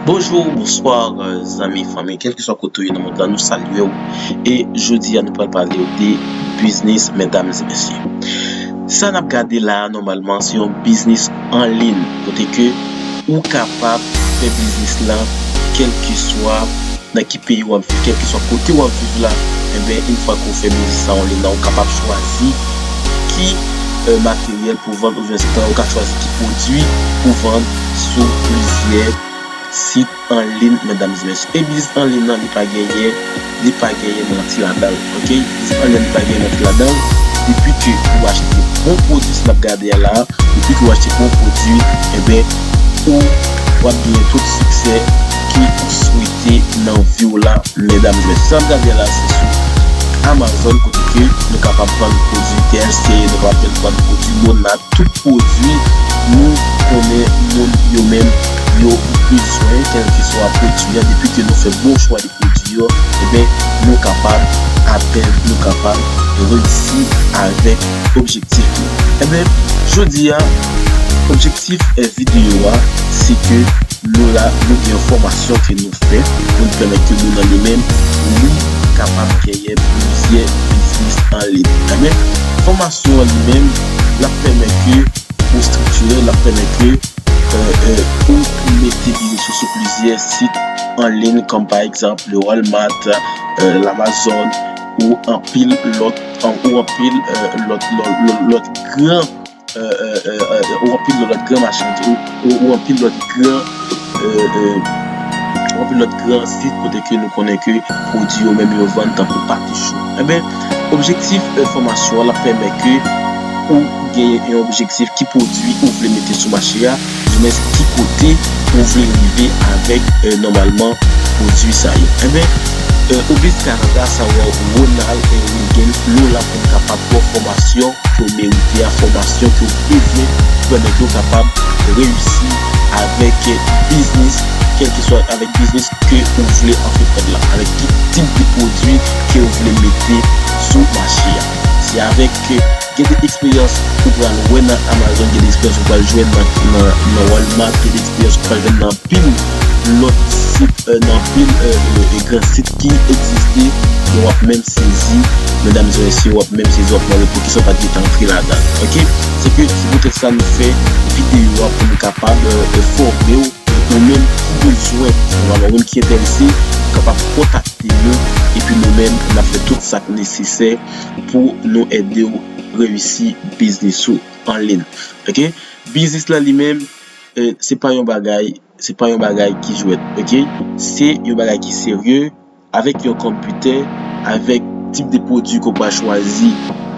Bonjou ou bonswa zanmi fanmi kelkeswa kote ou ye nan mond lan nou salye ou e jodi a nou pral pale ou de biznis medam e mesye sa nap gade la a nòmalman se yon biznis an lin kote ke ou kapab fè biznis la kelkeswa nan ki peyi wap viv kelkeswa kote wap viv la enben yon fwa ke ou fè biznis la an lin la ou kapab chwazi ki materyèl pou vann Pwovense tan ou ka chwazi ki pwodwi pou vann sou plizyè sit anlin medam zmèch e biznis anlin nan li pa genyen li pa genyen manti ladanl ok biznis anlin nan li pa genyen manti ladanl depi ke ou achte bon pwodwi sa nap gade a la depi ke ou achte bon pwodwi enben ou wap genyen tout siksè ke ou swete nan viw la. Medam jwenn San Gabriel la se sou Amazon kote ke nou kapab vann pwodwi TST, nou kapab jwenn vann pwodwi Mona, tout pwodwi nou konnen moun yo menm yo bezwen kèlkeswa pwodwi an depi ke nou fè bon chwa de pwodwi yo enben nou kapab atenn, nou kapab reyisi avèk objektif nou. Enben jodi a objektif video a se ke. Laura yo gen yon fòmasyon ke nou fè pou n pèmèt ke moun an li menm li kapab genyen plizyè biznis an liy. Enben, fòmasyon an li menm l ap pèmèt ke ou estriktirè, l ap pèmèt ke ou mete biznis ou sou plizyè sit an liy kòm pa egzanp le Walmart, Lamazon ou anpil lòt, ou anpil lòt gran. Ou anpil lòt gran machann tou. Ou anpil lòt gran Ou anpil lòt gran sit kote ke nou konnen ke pwodui yo menm yo vann tankou pate cho. Enben, objektif fòmasyon an l ap pèmèt ke ou gen yon objektif ki pwodui ou vle mete sou mache a. du mens ki kote ou vle rive avèk nòmalman pwodui sa yo. Enben, Obis Canada sa wè w Ronald Reagan lè w la pou n kapab ba w fòmasyon ke w merite a, fòmasyon ke w bezwen pou pèmèt ou kapab reyisi avèk biznis kèlkeswa avèk biznis ke ou vle antreprann la, avèk ki tip de pwodui ke w vle mete sou mache a. Se avèk. Gen de eksperyans ou pral wè nan Amazon, gen de eksperyans ou pral jwenn nan Walmart, gen de eksperyans ou pral jwenn nan anpil lòt sit, nan anpil gran sit ki egziste, men wap menm sezi medam e mesye, wap menm sezi wap mande poukisa ou pat gete antre ladan l ok. Se ke se poutèt sa nou fè videyo a pou nou kapab enfòme w, ou menm ki bezwen alò ou menm ki enterese ou kapab kontakte nou epi nou menm nap fè tout sak nesesè. pou nou ede w reyisi biznis ou an lin ok biznis lan li menm se pa yon bagay se pa yon bagay ki jwèt ok se yon bagay ki serye avèk yon konpitè avèk tip de pwodwi ke w pral chwazi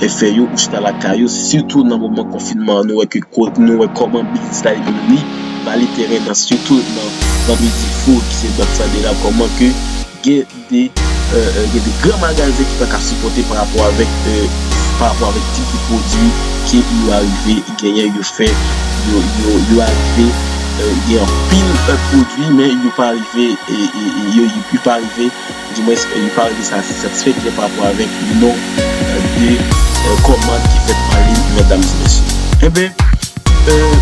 e fè yo ou chita lakay ou sitou nan moman konfinman nou wè ke nou wè kòman biznis la li menm li vale tèren nan sitou nan nan midi fout se bank sa de la kòman ke gen Te gen de gran magazen ki pa ka sipòte pa rapò avèk pa rapò avèk tip de pwodui ke yo arive genyen yo fè yo arive gen anpil pwodui men yo pa arive yo pa arive di mwens yo pa arive satisfè klyen pa rapò avèk non de kòmand ki fèt anliy mètdam e mèsye enben Euhh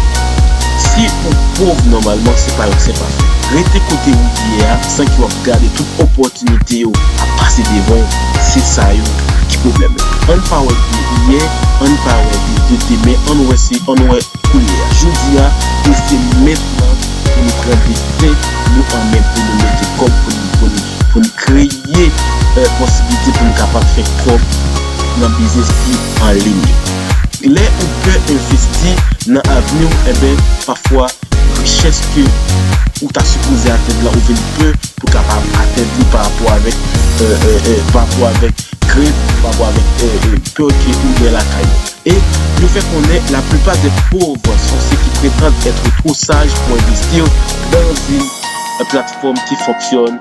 si ou pov nòmalman se pa yon sen pafè. Rete kote ou ye a san ke wap gade tout opòtinite yo ap pase devan w se sa yo ki pwoblèm la. Ann pa wè de yè ann pa wè de demen ann wè se ann wè koulye a jodi a e se mentnan pou nou pran desten nou an men pou nou mete kòb pou n pou n pou n kreye Ye posiblite pou n kapab fè kòb nan biznis ki an liy. Lè ou pè envesti nan avni w enben pafwa richès ke ou ta sipoze atenn lan ou vin pè pou kapab atenn li parapò avèk parapò avèk krent ou parapò avèk pè ke ou gen lakay ou. E yo fè konnen la plipa dè pov son se ki pretand ètre two saj pou envestir dan zin platfòm ki fonksyon.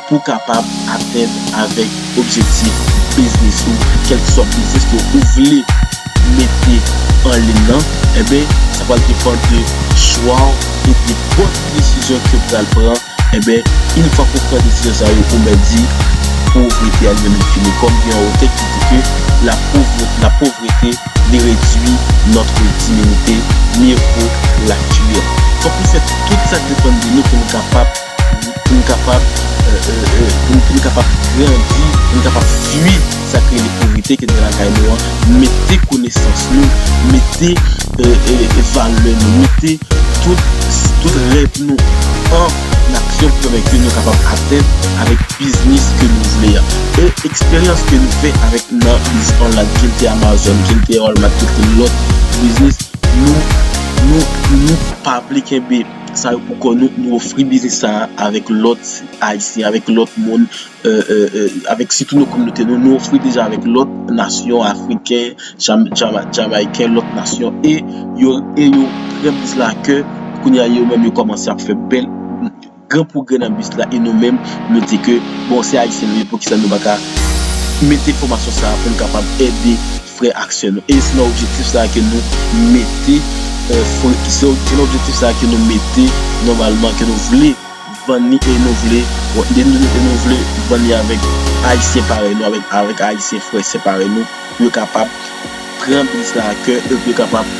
pou w kapab atenn avèk objektif biznis ou, kèlkeswa biznis ke ou vle mete an lin nan, enben sa pral depann de chwa w epi bon desizyon ke w pral pran, enben in fwa ke w pran desizyon sa yo ou mèt di povrete a li menm li fini, kòm gen yon otè ki di ke la povrete ne redwi notre diminite, mieux vaut la tuer. Fòk nou fè tout sa k depann de nou pou nou kapab. pou n kapab grandi, pou n kapab fui sa k rele povrete ki gen lakay nou an, mete konesans nou, mete valè nou, mete tout rèv nou an aksyon pou fè ke nou kapab atenn avèk biznis ke nou vle a. E eksperyans ke nou fè avèk nan biznis online, ke l te Amazon, ke l te Walmart, ke l te lòt biznis, nou pa vle kenbe. sa yo pou kò nou, nou ofri biznis sa a avèk lòt Ayisyen, avèk lòt moun, avèk sitou nou kominote nou, nou ofri deja avèk lòt nasyon, Afriken, Jamayken, lòt nasyon, e yo pran biznis la a kè, kounye a yo menm yo kòmanse ap fè bèl, gran pwogrè nan biznis la, e nou menm nou di ke, bon se Ayisyen nou ye, poukisa nou pa ka mete fòmasyon sa a pou nou kapab ede. frè ak sè nou. E se nan objektif sa a ke nou mete, se nan objektif sa a ke nou mete nòmalman ke nou vle vann li e nou vle, e nou vle vann li avèk Ayisyen parèy nou, avèk Ayisyen frè sè parèy nou, pou yo kapab pran biznis la a kè e pou yo kapab.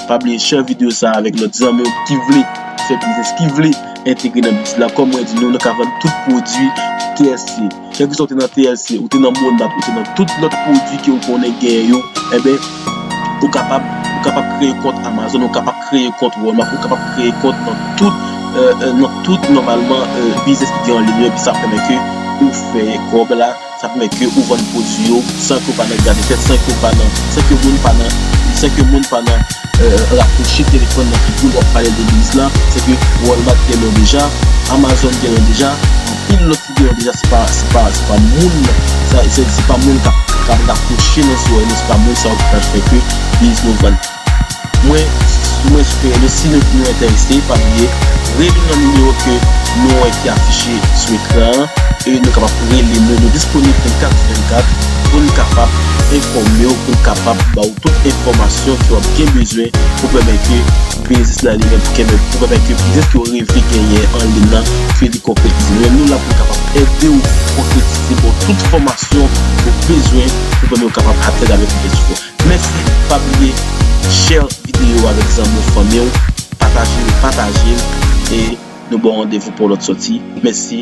Pa bliye share video sa avèk lòt zanmi w ki vle fè biznis, ki vle entegre nan biznis la. Kòm mwen di nou, nou ka vann tout pwodui TLC. Kèlkeswa ou te nan TLC, ou te nan Monat, ou te nan tout lòt pwodui ke ou konnen genyen yo, enben, ou kapab, ou kapab kreye kont Amazon, ou kapab kreye kont Walmart, ou kapab kreye kont nan tout, nan tout nòmalman biznis ki gen anliy yo, epi sa ap pèmèt ke ou fè kòb la. Sa pèmèt ke ou vann pwodwi yo san ke w pa nan gade tèt, san ke w pa nan, san ke moun pa nan, san ke moun pa nan rakwoche telefòn nan figi w lè w ap pale de biznis la. Se ke Walmart gen yon deja, Amazon gen yon deja, anpil lòt ki gen yon deja se pa, se pa, se pa moun, se pa moun k ap, k ap rakwoche nan zòrèy nou, se pa moun sa yo ki pral fè ke biznis nou vann. Mwen Mwen sitou renmen si nou nou enterese pa bliye rele nan nimewo ke nou wè ki afiche sou ekran an e nou kapab rele nou nou disponib 24 sou 24 pou n kapab enfòme w pou n kapab ba w tout enfòmasyon ke w ap gen bezwen pou pèmèt ke biznis nan li menm pou kenbe pou pèmèt ke biznis ke w reve genyen an lin nan ke li konkretize nou menm nou la pou n kapab ede w konkretize ba w tout fòmasyon ou bezwen pou pèmèt w kapab atenn avèk objektif ou. Mèsi pa bliye share video avèk zanmi w fanmi w pataje l pataje l e nou baw randevou pou yon lòt sòti mèsi.